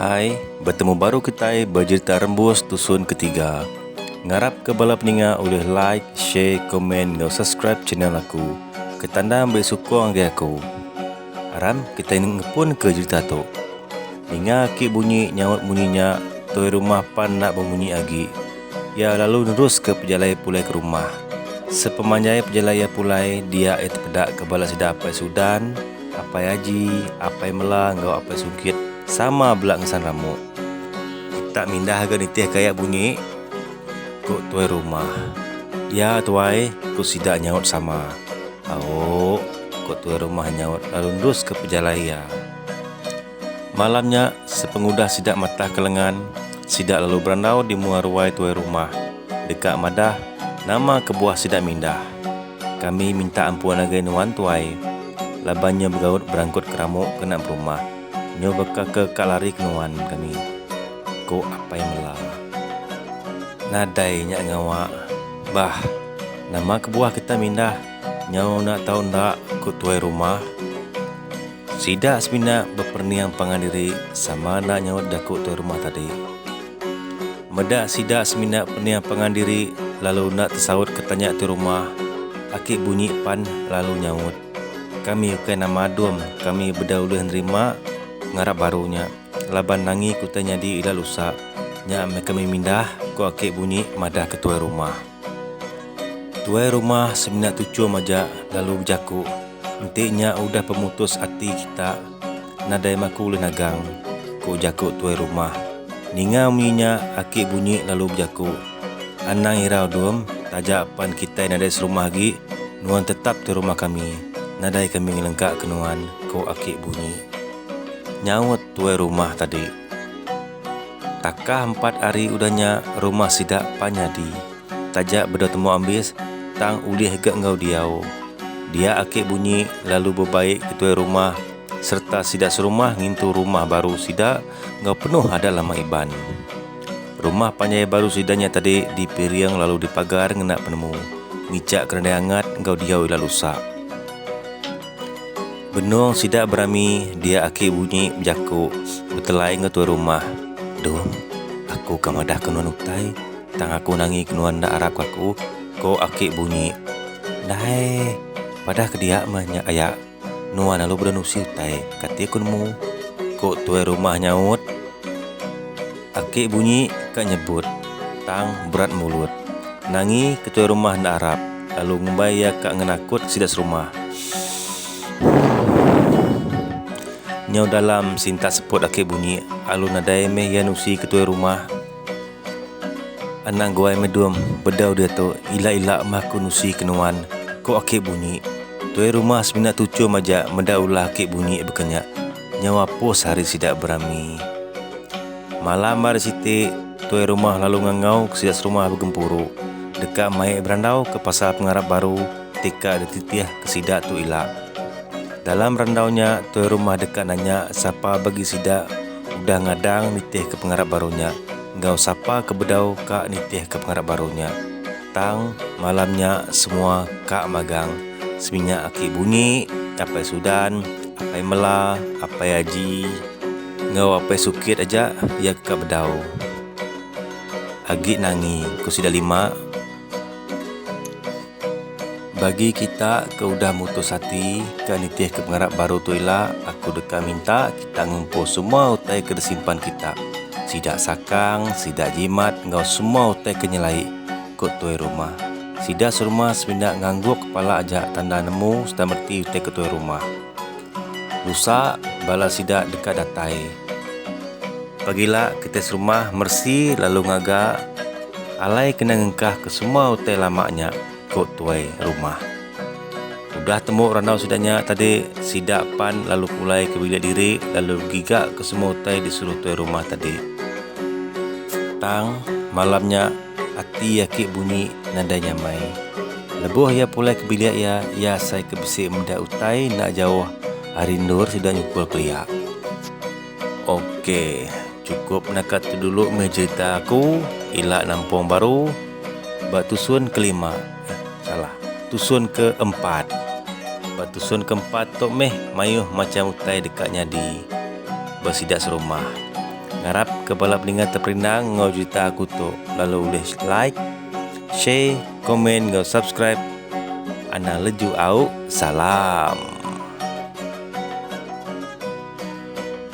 Hai, betemu baru kitai bejerita rembus tusun ketiga. Ngarap ke bala peninga ulih like, share, komen enggau subscribe channel aku. Ketanda meri sukung agi aku. Aram kitai ngepun ke jerita tu. Ninga aki bunyi nyaut munyi nya, toi rumah pan enda bemunyi agi. Iya lalu neruska pejalai pulai ke rumah. Sepemanjai pejalai iya pulai, dia iya tepedaka bala sida Apai Sudan, Apai Aji, Apai Mela enggau Apai Sugit sama bela ngesan ramuk. Kita mindah ga nitih ke aya bunyi, ku tuai rumah. Ya, tuai, ku sida nyaut sama. Au, ku tuai rumah nyaut lalu neruska pejalai iya. Malam nya, sepengudah sida matah ke lengan, sida lalu berandau di mua ruai tuai rumah, deka madah nama kebuah sida mindah. Kami minta ampun agai nuan tuai, laban nyu begaut berangkut ke ramu kena berumah, nyu baka ke ka lari ke nuan kami, ku Apai Mela. Nadai nya ngawa bah nama kebuah kita mindah nyau enda tau enda, ku tuai rumah. Sida semina beperening pangan diri sama enda nyaut jaku tuai rumah tadi. Meda sida semina pening pangan diri lalu enda tesaut ke tanya tuai rumah, aki bunyi pan lalu nyaut, Kami ukai nama adum, kami beda ulih nerima pengarap baru nya laban nangi ke utai nyadi ila lusa nya meh kami mindah, ku aki bunyi madahka tuai rumah. Tuai rumah semina tuchum aja lalu bejaku, Enti nya udah pemutus ati kita, nadai maku ulih nagang, ku jaku tuai rumah. Ninga munyi nya, aki Bunyi lalu bejaku, Anang irau Dum, taja pan kitai nadai serumah agi, nuan tetap di rumah kami. Nadai kami ngelengkaka nuan, ku aki Bunyi. Nyaut tuai rumah tadi. Takah empat ari udah nya rumah sida pan nyadi. Taja bedau temu ambis tang ulih ga enggau diau. Dia ake bunyi lalu bebaik ke tuai rumah sereta sida serumah ngintu rumah baru sida enggau penuh adat lama Iban. Rumah panjai baru sida nya tadi dipiring lalu dipagar ngena penemu, ngijak ke nadai angat enggau diau ila lusak. Benung sida berami dia aki bunyi bejaku betelai enggau tuai rumah. Dung, aku ka madahka nuan utai tang aku nangika nuan enda arapka aku, ko aki bunyi. Dai, padah ke dia meh nya aya nuan lalu bedau nusi utai kati aku nemu, ko tuai rumah nyaut. Aki bunyi ka nyebut, tang berat mulut. Nangi ketuai rumah enda arap, lalu ngumbai iya ka ngenakut sida serumah. Shhhhhh. Nyau dalam sintak seput Aki bunyi, alu nadai meh iya nusi ketuai rumah. Anak guai Medum, bedau diatu, ila-ila meh aku nusi ke nuan, ko Aki bunyi. Tuai rumah semina tuchum aja meda ulah Aki bunyi baka nya. Nyau apus hari sida berami. Malam ari siti, tuai rumah lalu ngangauka sida serumah begempuru deka mai berandauka pasal pengarap baru ti ka dititihka sida tu ila. Dalam randau nya, tuai rumah deka nanya sapa bagi sida udah ngadang nitihka pengarap baru nya enggau sapa ke bedau ka nitihka pengarap baru nya. Tang, malam nya semua ka magang seminyak aki Bunyi, Apai Sudan, Apai Mela, Apai Aji enggau Apai Sukit aja iya ke ka bedau. Agi nangi ku sida lima bagi kita ke udah mutus ati ke nitihka pengarap baru tu ila, aku deka minta. Tang ngumpul semua utai ke disimpan kita, sida sakang, sida jimat enggau semua utai ke nyelai, ku tuai rumah. Sida serumah semina ngangguk kepala aja tanda nemu sereta meti utai ke tuai rumah. Lusa, bala sida deka datai. Pagila, kitai serumah meresi lalu ngaga alai kena ngengkahka semua utai lama nya. ku tuai rumah. Udah tembu randau sida nya tadi, sida pan lalu pulai ke bilik diri lalu giga ke semua utai disuruh tuai rumah tadi. Tang, malam nya ati aki bunyi nadai nyamai. Lebuh iya pulai ke bilik iya, iya asai ke bisi meda utai enda jauh ari endur sida nyukul kelia. Ok cukup naka tu dulu meh cerita aku ila nampung baru ba tusun kelima eh salah tusun keempat ba tusun keempat tu meh mayuh macham utai deka nyadi ba sida serumah ngarap ke bala pendengar terperinang enggau cerita aku tu lalu ulih like share komen enggau subscribe anang leju au salam.